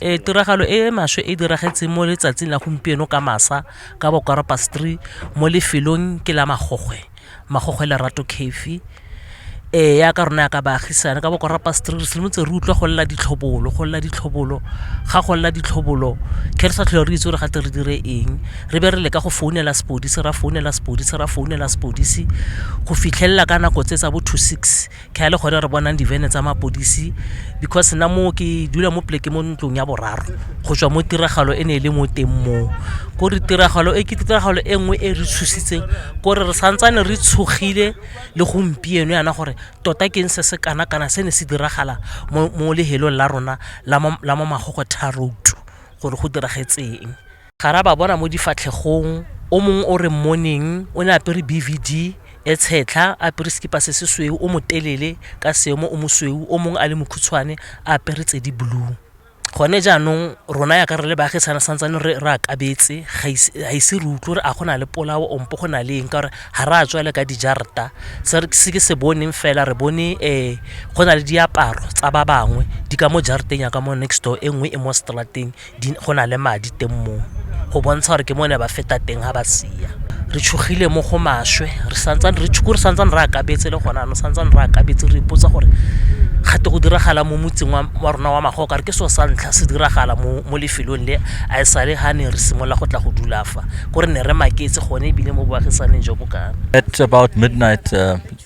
E tiragalo e e maswe e diragetseng mo letsatsing la gompieno ka masa ka bokwara pastri mo lefelong ke la magogwe magogwe lerato cafe e ya ka rona ya ka baagisane ka bokwara pastri re simotse re utlwa go lela ditlhobolo go lela ditlhobolo ga go lela ditlhobolo ke re sa tlhole re itse gore gate re dire eng re be re leka go founela sepodisi ra founela sepodisi ra founela sepodisi go fitlhelela ka nako tse tsa bo two six ka e le gone re bonang divene tsa mapodisi because nna moo ke dula mo pleke mo ntlong ya boraro go tswa mo tiragalo e ne e le mo teng moo ko re tiragalo e ke tiragalo e nngwe e re tshositseng ko re re santsane re tshogile le gompieno yana gore tota ke eng se se kana kana se ne se diragala mo lehelong la rona la mo magogo tharoutu gore go diragetseng Ga ra ba bona mo difatlhegong. O mongwe o re mmoneng o ne a apere BVD e tshetlha, a apere sekipa se se sweu, o motelele ka seemo o mosweu, o mongwe a le mokhutshwane a apere tse di blue. Gone jaanong rona yaka re le baagisane santsane re re akabetse, ga ise re utlwe gore a go na le polao ompo go na le eng ka gore ga re a tswa le ka dijarata. Se ke se boneng fela re bone go na le diaparo tsa ba bangwe di ka mo jarateng ya ka mo next door e nngwe e mo straat-eng. go na le madi teng moo go bontsha gore ke mo ne ba feta teng ga ba sia re tshogile mo go maswe re santsane re tshoko re santsane re akabetse le gona no santsane re akabetse re ipotsa gore gate go diragala mo motseng wa rona wa magoka re ke so sa ntlha se diragala mo mo lefelong le a e sale ga ne re simolola go tla go dula fa ko re ne re maketse gone ebile mo boagisaneng jo bokana at about midnight uh,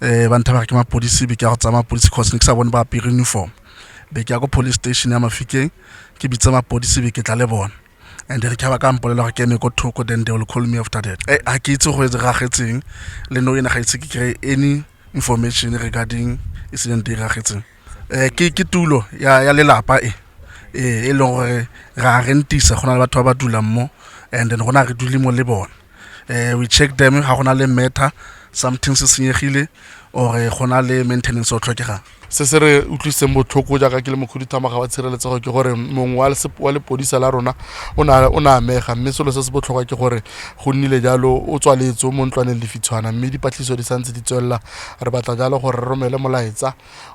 eh ba nthabare ke mapodisi be ke ya go tsaya mapodisi cause ne ke sa bone ba apere uniform be ke ya ko police station ya mafikeng ke bitse mapodisi be ke tla le bona and re ka ba ka mpolela gore ke eme ko thoko then they will call me after that eh ha ke itse go e ragetseng le no ena ga itse ke kry any information regarding incident e ragetseng Eh, ke ke tulo ya ya lelapa e eh, e leng gore ra rentisa go na le batho ba ba dulang mo and then gona re dule mo le bone eh, we check them ga gona le matter something se senyegile or eh, go na le maintenance o tlhokegang se se re utlwisitseng botlhoko jaaka ke le mokhuduthamaga wa tshireletsego ke gore mongwe wa lesep- wa lepodisa la rona o na- o na amega mme selo se se botlhokwa ke gore go nnile jalo o tswaletse o mo ntlwaneng lefitshwana mme dipatlisiso di santse di tswelela re batla jalo gore re romele molaetsa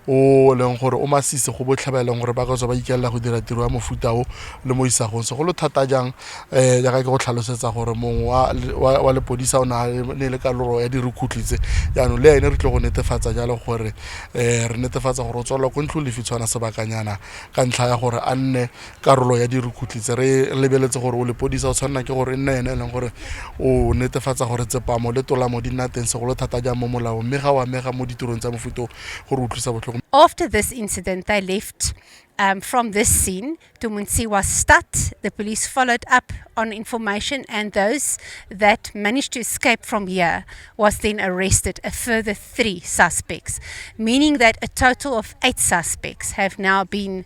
o leng gore o masisi go botlhe ba e leng gore ba ka tswa ba ikelela go dira tiro ya mofuta o le mo isagong segolo thata jang um jaaka ke go tlhalosetsa gore mongwe wa- wa wa lepodisa o na ne e le kaloro ya dirukhutlhi tse jaanong le ene re tlo go netefatsa jalo gore um re netefatsa gore o tswalelwa ko ntlo lefi tshwana sebakanyana ka ntlha ya gore a nne karolo ya dirukutlhi tse re lebeletse gore o lepodisa o tshwanela ke gore e nne ene e leng gore o netefatsa gore tsepamo le tolamo di nna teng segolo thata jang mo molaong mme ga o amega mo ditirong tsa mofuto gore utlwisa botlhoko After this incident, they left um, from this scene. Tumunsi was stuck. The police followed up on information, and those that managed to escape from here was then arrested. A further three suspects, meaning that a total of eight suspects have now been